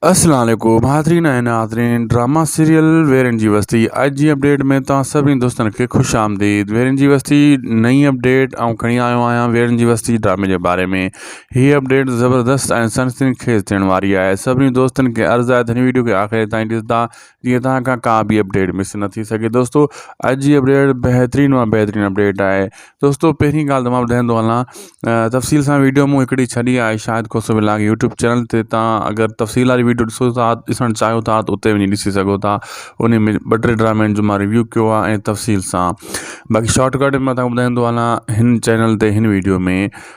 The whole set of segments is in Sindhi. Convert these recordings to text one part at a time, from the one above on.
السلام عليڪم حاضرين ۽ ناظرين ڊراما سيريل ويرين جي وستي اڄ جي اپڊيٽ ۾ توهان سڀني دوستن کي خوش آمديد ويرين جي وستي نئين اپڊيٽ آئون کڻي آيو آهيان ويرين جي وستي ڊرامي جي باري ۾ هي اپڊيٽ زبردست ۽ سنسني خيز ٿيڻ واري آهي سڀني دوستن کي عرض آهي ته هن ويڊيو کي آخر تائين ڏسندا جيئن توهان کان ڪا به اپڊيٽ مس نه ٿي سگهي دوستو اڄ جي اپڊيٽ بهترين مان بهترين اپڊيٽ آهي دوستو پهرين ڳالهه تمام ٻڌائين ٿو هلان تفصيل سان ويڊيو مون هڪڙي ڇڏي آهي Shahid Khoso vlog YouTube channel تي تان اگر تفصيل واري ويڊيو ڏسو ٿا ڏسڻ چاهيو ٿا ته اتي وڃي ڏسي سگهو ٿا ان ۾ ٻه ٽي ڊرامن جو مان ريويو ڪيو آهي ۽ تفصيل سان باقي شارٽ ڪٽ ۾ مٿان ٻڌائين ٿو هلان هن چينل تي هن ويڊيو ۾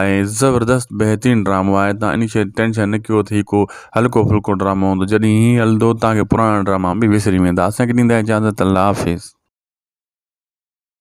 ۽ زبردست بهترين ڊرامو آهي تان اني شي ٽينشن نه ڪيو ته هي ڪو هلڪو ڦلڪو ڊرامو هوندو جڏهن هي هلندو تان کي پراڻا ڊراما به وسري ويندا اسان کي ڏيندا اجازت الله حافظ.